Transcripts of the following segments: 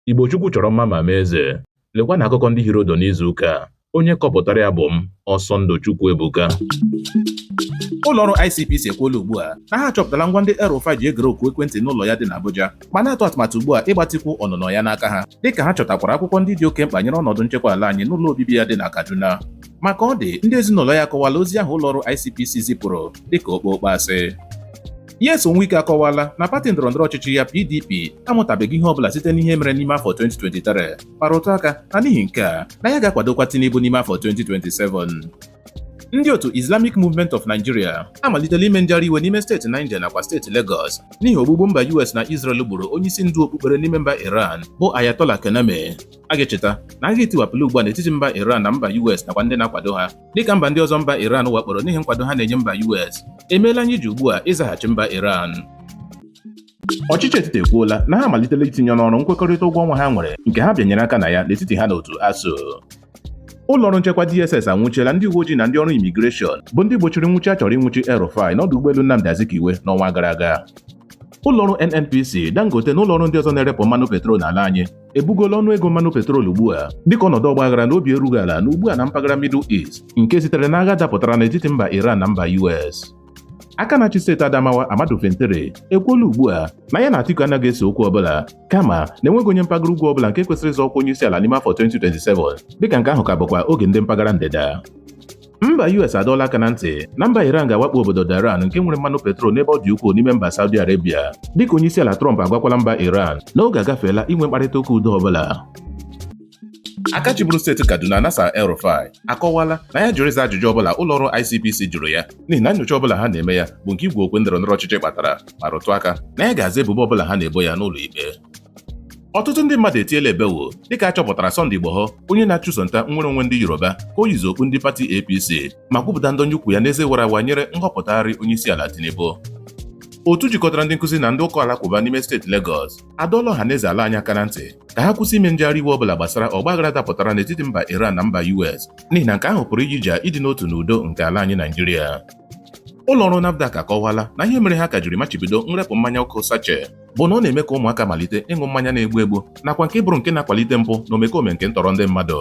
Igbo Chukwu chọrọ mma ma mee eze. Lekwa na akụkọ ndị hiri ụdụ n'izu ụka a. Onye kọpụtara ya bụ m, Ọsọndụ Chukwuebuka. Ụlọọrụ ICPC ekwuola ugbu a na ha achọpụtala ngwa ndị El-Rufai ji egere oku ekwentị n'ụlọ ya dị n'Abuja ma na-atụ atụmatụ ugbu a ịgbatikwu ọnụnọ ya n'aka ha dịka ha chọtakwara akwụkwọ ndị dị oke mkpa nyere ọnọdụ nchekwa ala anyị n'ụlọ obibi ya dị na Kaduna ma ka ọ dị ndị ezinụlọ ya akọwala ozi ahụ ụlọọrụ ICPC zipụrụ dịka okpokpo asị Nyesom Wike akọwala na pati ndọrọndọrọ ọchịchị ya PDP amụtabeghị ihe ọbụla site n'ihe mere n'ime afọ 2023 ma rụtụ aka na n'ihi nke a na ya ga-akwadokwa Tinubu n'ime afọ 2027 ndị otu Islamic Movement of Nigeria amalitela ime njegharị iwe n'ime steeti Niger nakwa steeti Lagos n'ihi ogbugbu mba US na Israel gburu onyeisi ndu okpukpere n'ime mba Iran bụ Ayatollah Khamenei a ga-echeta na agha etiwapụla ugbu a n'etiti mba Iran na mba US nakwa ndị na-akwado ha dịka mba ndị ọzọ mba Iran wakporo n'ihi nkwado ha na-enye mba US emeela anyị ji ugbu a ịzaghachi mba Iran ọchịchị etiti ekwuola na ha amalitela itinye n'ọrụ nkwekọrịta ụgwọ ọnwa ha nwere nke ha bịanyere aka na ya n'etiti ha na otu ASUU ụlọọrụ nchekwa DSS anwụchiela ndị uwe ojii na ndị ọrụ imigreshọn bụ ndị gbochiri nwụchi a chọrọ ịnwụchi El-Rufai n'ọdụ ụgbọelu Nnamdi Azikiwe n'ọnwa gara aga ụlọọrụ NNPC Dangote na ụlọọrụ ndị ọzọ na-erepụ mmanụ petrol n'ala anyị ebugola ọnụ ego mmanụ petrol ugbu a dịka ọnọdụ ọgbaghara na obi erughị ala nọ ugbu a na mpaghara Middle East nke sitere n'agha dapụtara n'etiti mba Iran na mba US aka na-achị steeti Adamawa Ahmadu Fintiri ekwuola ugbu a na ya na Atiku anaghị ese okwu ọbụla kama na enweghị onye mpaghara ugwu ọbụla nke kwesịrị ịzọ ọkwa onye isi ala n'ime afọ 2027 dịka nke ahụ ka bụkwa oge ndị mpaghara ndịda mba US adọọla aka na ntị na mba Iran ga-awakpo obodo Dhahran nke nwere mmanụ petrol n'ebe ọ dị ukwuu n'ime mba Saudi Arabia dịka onyeisiala Trump agwakwala mba Iran na oge agafeela inwe mkparịta ụka udo ọbụla aka chịburu steeti Kaduna Nasir El-Rufai akọwala na ya jụrụ ịza ajụjụ ọbụla ụlọ ọrụ ICPC jụrụ ya n'ihi na nyocha ọbụla ha na-eme ya bụ nke igwu okwe ndọrọ ndọrọ ọchịchị kpatara ma rụtụ aka na ya ga-aza ebubo ọbụla ha na-ebo ya n'ụlọ ikpe ọtụtụ ndị mmadụ etiela ebewo dịka a chọpụtara Sunday Igboho onye na-achụso nta nnwere onwe ndị Yoruba ka o yizi okpu ndị pati APC ma kwupụta ndọnye ụkwụ ya n'eze wara awa nyere nhọpụtagharị onye isi ala Tinubu otu jikọtara ndị nkụzi na ndị ụka alakụba n'ime steeti Lagos adọọla ọha na eze ala anyị aka na ntị ka ha kwụsị ime njegharị iwe ọbụla gbasara ọgbaghara dapụtara n'etiti mba Iran na mba US n'ihi na nke ahụ pụrụ iji ja ịdị n'otu na udo nke ala anyị Naijiria ụlọọrụ NAFDAC akọwala na ihe mere ha ka jiri machibido nrepụ mmanya ọkụ sachet bụ na ọ na-eme ka ụmụaka malite ịṅụ mmanya na-egbu egbu nakwa nke bụrụ nke na-akwalite mpụ na omekome nke ntọrọ ndị mmadụ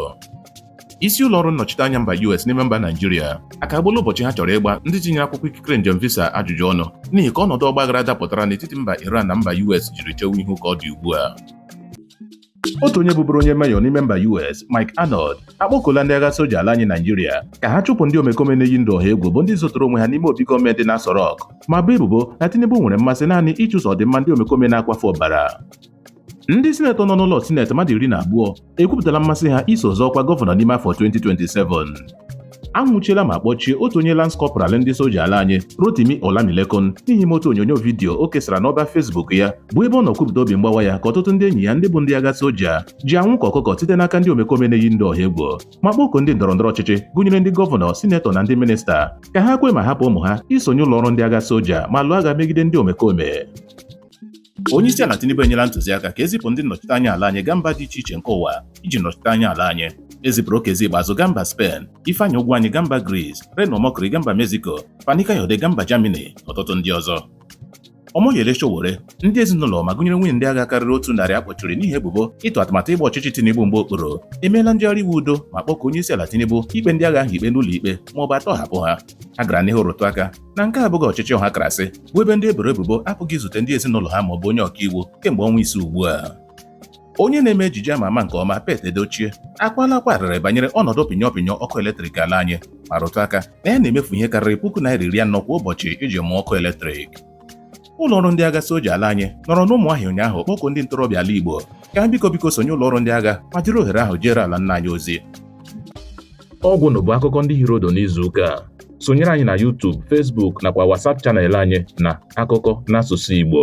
isi ụlọ ọrụ nnọchiteanya mba US n'ime mba Naijiria akagbuola ụbọchị ha chọrọ ịgba ndị tinyere akwụkwọ ikikere njem visa ajụjụ ọnụ n'ihi ka ọnọdụ ọgbaghara dapụtara n'etiti mba Iran na mba US jiri chewe ihu ka ọ dị ugbu a otu onye bụburu onye meyọ n'ime mba US Mike Arnold akpọkuola ndị agha soja ala anyị Naijiria ka ha chụpụ ndị omekome na-eyi ndụ ọha egwu bụ ndị zoturu onwe ha n'ime obi gọọmenti na Aso Rock ma bo ebubo na Tinubu nwere mmasị naanị ịchụso ọdịmma ndị omekome na-akwafu ọbara ndị sinetọ nọ n'ụlọ sinetị mmadụ iri na abụọ ekwupụtala mmasị ha iso zọọ ọkwa gọvanọ n'ime afọ 2027 a nwụchiela ma kpọchie otu onye lance corporal ndị soja ala anyị Rotimi Olamilekan n'ihi otu onyonyo vidiyo o kesara n'ọba Facebook ya bụ ebe ọ nọ kwupụta obi mgbawa ya ka ọtụtụ ndị enyi ya ndị bụ ndị agha soja ji anwụ ka ọkụkọ site n'aka ndị omekome na-eyi ndị ọha egwu ma kpọkuo ndị ndọrọndọrọ ọchịchị gụnyere ndị gọvanọ sinetọ na ndị minista ka ha kwe ma hapụ ụmụ ha isonye ụlọ ọrụ ndị agha soja ma lụọ agha megide ndị omekome Onyeisiala Tinubu enyela ntụziaka ka e zipụ ndị nnọchite anya ala anyị gaa mba dị iche iche nke ụwa iji nọchite anya ala anyị e zipụrụ Okezie Ikpeazu gaa mba Spain Ifeanyi Ugwuanyi gaa mba Greece Reno Omokri gaa mba Mexico Fani Kayode gaa mba Germany na ọtụtụ ndị ọzọ Omoyele Sowore ndị ezinụlọ ma gụnyere nwunye ndị agha karịrị otu narị a kpọchiri n'ihi ebubo ịtụ atụmatụ ịgba ọchịchị Tinubu mgba okpuru emeela ngagharị iwe udo ma kpọkuo onyeisiala Tinubu ikpe ndị agha ahụ ikpe n'ụlọ ikpe ma ọ bụ a tọhapụ ha ha gara n'ihu rụtụ aka na nke a abụghị ọchịchị ọha karịsịa bụ ebe ndị e boro ebubo apụghị izute ndị ezinụlọ ha ma ọ bụ onye ọkaiwu kemgbe ọnwa ise ugbu a onye na-eme ejije ama ama nke ọma Pete Edochie akwaala akwa arịrị banyere ọnọdụ pịnyọ pịnyọ ọkụ eletrik ala anyị ma rụtụ aka na ya na-emefu ihe karịrị puku naira iri anọ kwa ụbọchị iji mụọ ọkụ eletrik ụlọ ọrụ ndị agha soja ala anyị nọrọ n'Umuahia ụnyaahụ kpọkuo ndị ntorobịa ala Igbo ka ha biko biko sonye ụlọ ọrụ ndị agha ma jiri ohere ahụ jeere ala nna anyị ozi ọ gwụnụ bụ akụkọ ndị hiri ụdụ n'izuụka a sonyere anyị na YouTube Facebook nakwa WhatsApp channel anyị na akụkọ n'asụsụ Igbo